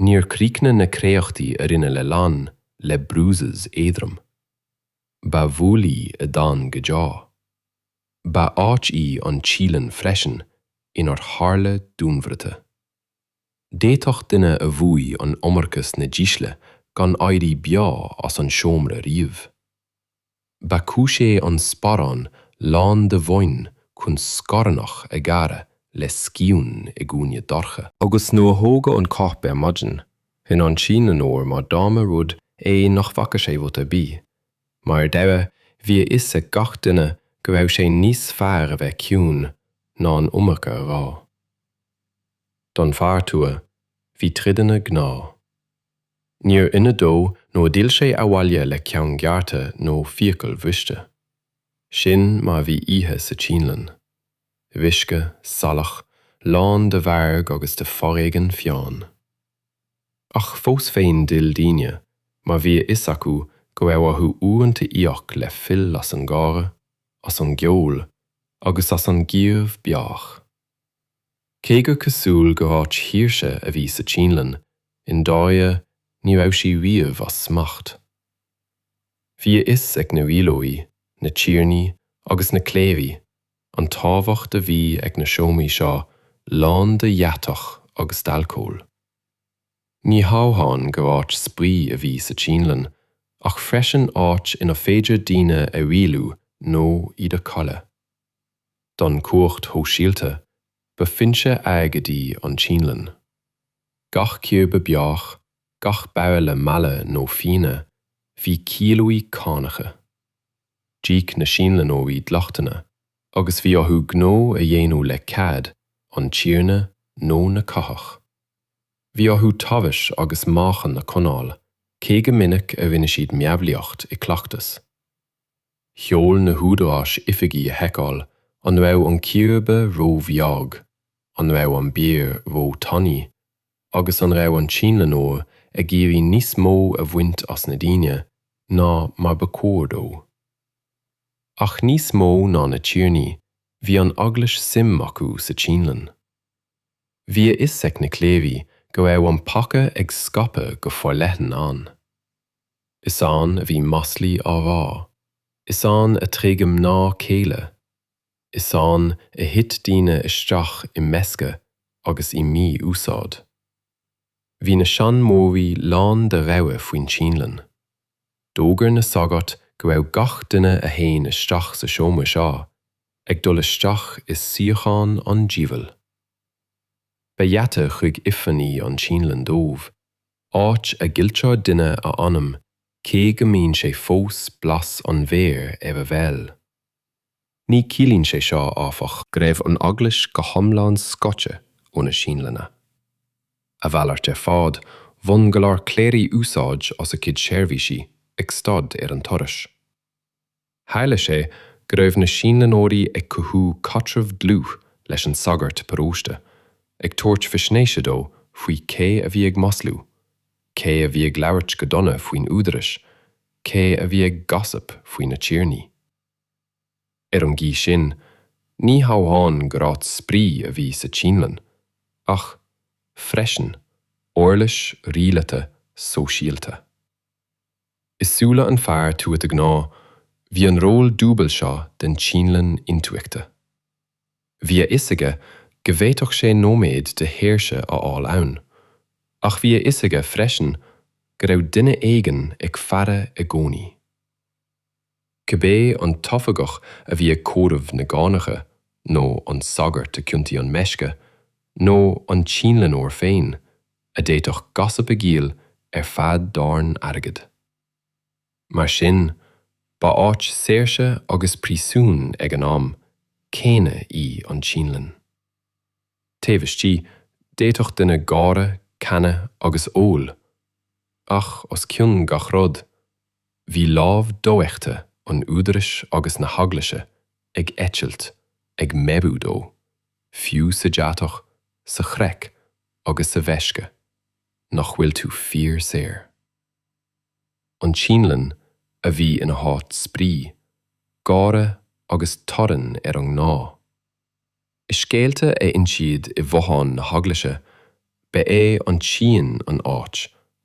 Níor chríochnaigh na créachtaí a rinneadh le lann le bruises éadrom. Ba bhuillí a d'fhan go deo. Ba áit í an tsíleann freisin inar tharla dúnmharuithe. D'fhéadfadh duine a bhuaigh an iomarca sna dísle gan éirí beo as an seomra riamh. Ba chúis é an sparán lán de bhoinn chun scornach a ghearradh le scian i gcúinne dorcha. Agus nuair a thógadh an corp ar maidin, rinne an síleanóir mar dá mba rud é nach bhfaca sé rud ar bith, Mar ar deireadh, bhí a fhios ag gach duine go raibh sé níos fearr a bheith ciúin ná an iomarca a rá. Don fear tuaithe, bhí troid ina gnáth. Níor ionadh dó nó d'fhill sé abhaile le ceann gearrtha nó fiacail bhriste. Sin mar bhí oíche sa tsíonlann. Uisce, salach, lán de mhairg agus de foréigean fiáin. Ach fós féin d'fhill daoine, mar bhí a fhios acu go raibh orthu uaireanta íoc le fuil as an gáire, as an gceol agus as an gciabh beorach. Cé gur cosúil gur áit shaoirse a bhí sa tsíonlann, i ndáirire ní raibh sí riamh as smacht. Bhí a fhios ag na rialóirí, na tiarnaí agus na cléirigh, an tábhacht a bhí ag na seomraí seo lán de dheatach agus d'alcól. Ní hamháin gur áit spraoi a bhí sa tsíonlann ach freisin áit inar féidir daoine a rialú nó iad a chailleadh. Don chumhacht shóisialta, ba foinse airgid í an tsíonlann. Gach ciar ba beorach, gach bairille meala nó fíona, bhí ciallú cánacha. D'íoc na síonlannóirí dleachtanna agus bhí orthu gnó a dhéanamh le cead an tiarna nó na cathrach. Bhí orthu tomhais agus meáchan a coinneáil, cé go minic a rinne siad meabhlaíocht i gcleachtas. Sheol na húdaráis oifigigh a sheiceáil an raibh an círéibe róbheag, an raibh an beoir ró-tanaí, agus an raibh an tsíonlannóir ag iarraidh níos mó a bhaint as na daoine ná mar ba chóir dó. Ach níos mó ná na tiarnaí, bhí an Eaglais suim acu sa tsíonlann. Bhí a fhios ag na cléirigh go raibh an peaca ag scaipeadh go forleathan ann. Is ann a bhí maslaí á rá, is ann a tréigeadh mná céile, Is ann a thit daoine isteach i meisce agus i mí-úsáid. Bhí na seanmóirí lán de rabhadh faoin tsíonlann. D'fhógair na sagairt go raibh gach duine a théann isteach sa seomra seo ag dul isteach i suíochán an diabhail. Ba gheata chuig ifreann í an tsíonlann dóibh, áit a gcailltear duine a anam cé go mbíonn sé fós blas an bheoir ar a bhéal. Ní chiallaíonn sé seo, áfach, go raibh an Eaglais go hiomlán scoite ó na sínleanna. A mhalairt ar fad, bhain go leor cléirigh úsáid as a gcuid seirbhísí ag stad ar an turas. Tharla sé go raibh na sínleanóirí ag cothú caidreamh dlúth leis an sagart paróiste, ag tabhairt faisnéise dó faoi cé a bhí ag maslú, cé a bhí ag labhairt go dona faoin údarás, cé a bhí ag 'gossip' faoi na tiarnaí. Ar an gcaoi sin, ní hamháin gur áit spraoi a bhí sa tSíonlann, ach, freisin, uirlis rialata sóisialta. I súile an fear tuata gnáth, bhí an ról dúbail seo den tSíonlann intuigthe. Bhí a fhios aige go bhféadfadh sé nóiméad de shaoirse a fháil ann, ach bhí a fhios aige freisin go raibh duine éigin ag faire i gcónaí. Cibé an t-oifigeach a bhí ag comhaireamh na gcánacha, nó an sagart a chiontaigh an meisce, nó an tSíonleanóir féin, a d'fhéadfadh Gossip a dhíol ar feadh dorn airgid. Mar sin, ba áit saoirse agus príosúin ag an am céanna í an tSíonlann. Taobh istigh, d'fhéadfadh duine gáire, canadh agus ól, ach os cionn gach rud, bhí lámh dofheicthe an Údaráis agus na hEaglaise ag eitilt, ag meabhrú dó, fiú sa deatach, sa chraic agus sa mheisce, nach bhfuil tú fíor saor. An tSíonlann a bhí ina háit spraoi, gáire agus torainn ar an ngnáth. I scéalta a insíodh i bhfothain na heaglaise, ba é an tsíon an áit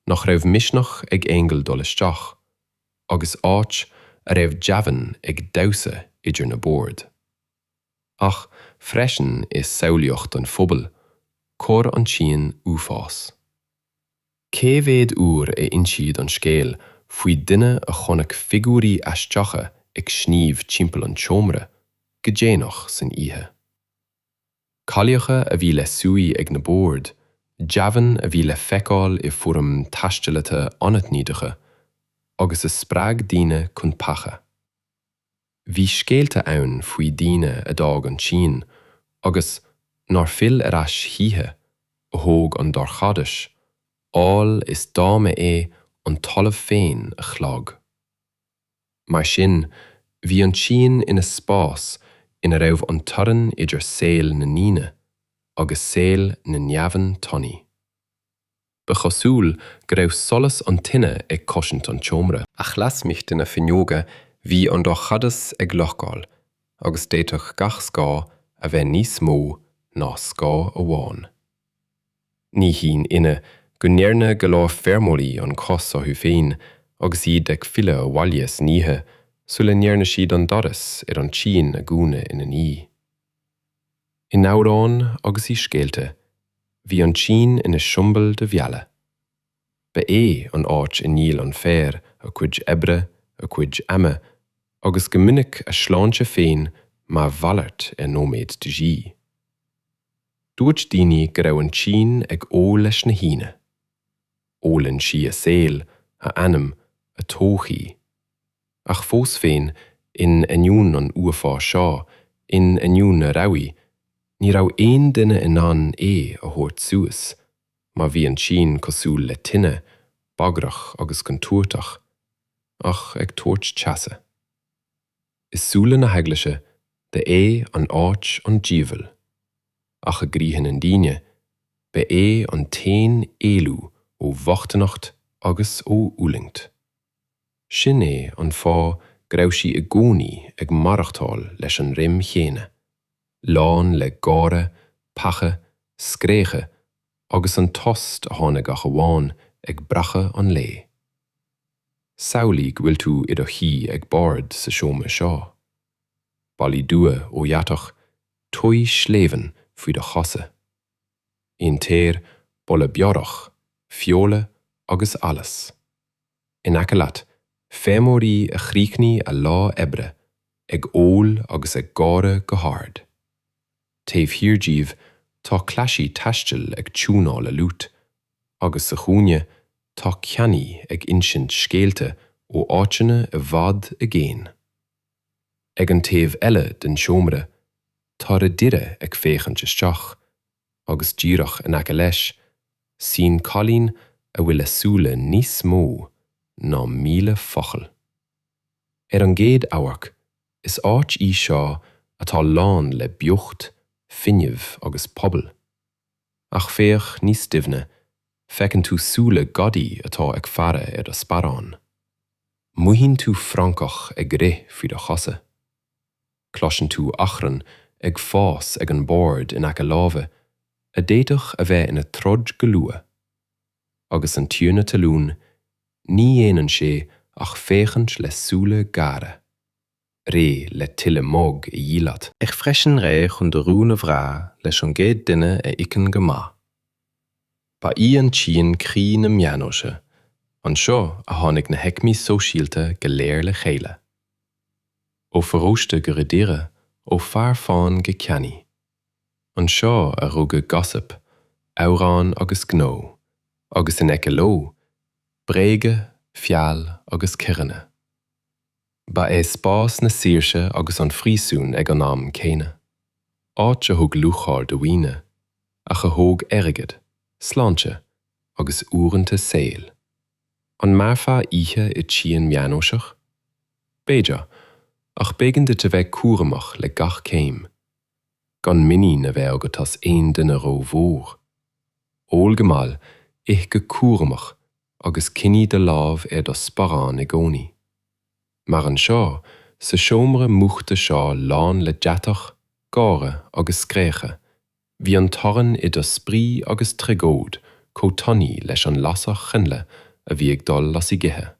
nach raibh misneach ag aingil dul isteach, agus áit a raibh deamhain ag damhsa idir na boird. Ach freisin i samhlaíocht an phobail, chuir an tsíon uafás. Cé mhéad uair a insíodh an scéal faoi dhuine a chonaic figiúirí aisteacha ag sníomh timpeall an tseomra go déanach san oíche? Cailleacha a bhí le suí ag na boird, deamhain a bhí le feiceáil i bhfoirm taistealaithe anaithnideacha agus a spreag daoine chun peacha. Bhí scéalta ann faoi dhaoine a d'fhág an tSín agus nár fhill ar ais choíche, a thóg an dorchadas, amhail is dá mba é an talamh féin a shlog. Mar sin, bhí an tSín ina spás ina raibh an teorainn idir saol na ndaoine agus saol na ndeamhan tanaí. Ba chosúil go raibh solas an tine ag cosaint an tseomra. Ach lasmuigh de na fuinneoga bhí an dorchadas ag locáil agus d'fhéadfadh gach scáth a bheith níos mó ná scáth amháin. Ní haon ionadh go ndearna go leor feirmeoirí an cros orthu féin agus iad ag filleadh abhaile san oíche sula ndearna siad an doras ar an tsíon a dhúnadh ina ndiaidh. In amhráin agus i scéalta, bhí an tSín ina siombail de mhealladh. Ba é an áit a ndíol an fear a cuid oibre, a cuid ama, agus go minic a sláinte féin mar mhalairt ar nóiméad de dhíth. Dúirt daoine go raibh an tSín ag ól leis na haíonna. Ólann sí a saol, a anam, a todhchaí. Ach fós féin, in ainneoin an uafáis seo, in ainneoin an rabhaidh, ní raibh aon duine in ann é a thabhairt suas. Mar bhí an tSín cosúil le tine, bagrach agus contúirteach, ach ag tabhairt teasa, i súile na hEaglaise, ba é an áit an diabhail, ach i gcroíthe na ndaoine, ba é an t-aon éalú ó bhochtaineacht agus ó fhulaingt. Sin é an fáth go raibh sí i gcónaí ag maireachtáil leis an rithim chéanna, lán le gáire, peaca, scréachadh agus an tost a tháinig ach amháin ag breacadh an lae. Samhlaigh go bhfuil tú i do shuí ag bord sa seomra seo. Ballaí dubha ó dheatach, tuí shleamhain faoi do chosa. An t-aer, boladh beorach, feola agus allas. in aice leat, feirmeoirí a chríochnaigh a lá oibre ag ól agus ag gáire go hard. Taobh thiar díobh tá cleasaí taistil ag tiúnáil a liúit, agus sa chúinne tá ceannaí ag insint scéalta ó áiteanna i bhfad i gcéin. Ag an taobh eile den seomra tá ridire ag féachaint isteach, agus díreach in aice leis, suíonn cailín a bhfuil a súile níos mó ná míle focal. Ar an gcéad amharc, is áit í seo atá lán le beocht, fuinneamh agus pobal. Ach féach níos doimhne, feiceann tú súile gadaí atá ag faire ar do sparán. Mothaíonn tú francach ag rith faoi do chosa. Cloiseann tú achrann ag fás ag an mbord in aice láimhe a d'fhéadfadh a bheith ina troid go luath. Agus an tiarna talún, ní dhéanann sé ach féachaint le súile géara, réidh le tuilleadh muig a dhíol leat. Ach freisin réidh chun do rún a bhrath leis an gcéad duine a íocann go maith. Ba í an tsíon croí na meánaoise, anseo a tháinig na haicmí sóisialta go léir le chéile. Ó pharóiste go ridire, ó fear fáin go ceannaí. Anseo a rugadh gossip, amhráin agus gnó, agus in aice leo, bréaga, feall agus coireanna. Ba é spás na saoirse agus an phríosúin ag an am céanna. Áit a thug lúcháir do dhaoine, ach a thóg airgead, sláinte agus uaireanta saol. An mairfeá oíche i tsíon mheánaoiseach? B'fhéidir, ach b'éigean duit a bheith cúramach le gach céim. Gan muinín a bheith agat as aon duine ró-mhór. Ól go mall, ith go cúramach agus coinnigh do lámh ar do sparán i gcónaí. Mar anseo, sa seomra múchta seo lán le deatach, gáire agus scréacha, Bhí an teorainn idir spraoi agus tragóid chomh tanaí leis an lasair choinnle a bhí ag dul as a gcithe.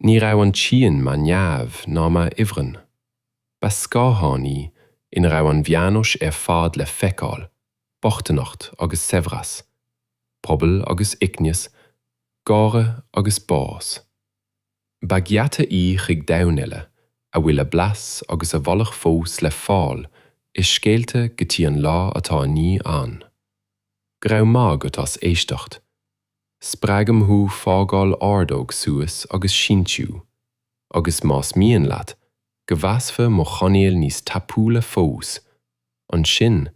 Ní raibh an tsíon mar neamh ná mar ifreann. Ba scáthán í ina raibh an mheánaois ar fad le feiceáil, bochtaineacht agus saibhreas, pobal agus uaigneas, gáire agus bás. Ba gheata í chuig domhan eile, a bhfuil a blas agus a bholadh fós le fáil i scéalta go dtí an lá atá inniu ann. Go raibh maith agat as éisteacht. Spreagaim thú fágáil ordóg suas agus síntiú, agus más mian leat go bhfásfaidh mo chainéal níos tapúla fós, ansin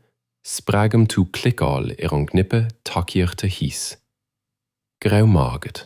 spreagaim tú cliceáil ar an gcnaipe tacaíochta thíos. Go raibh maith agat.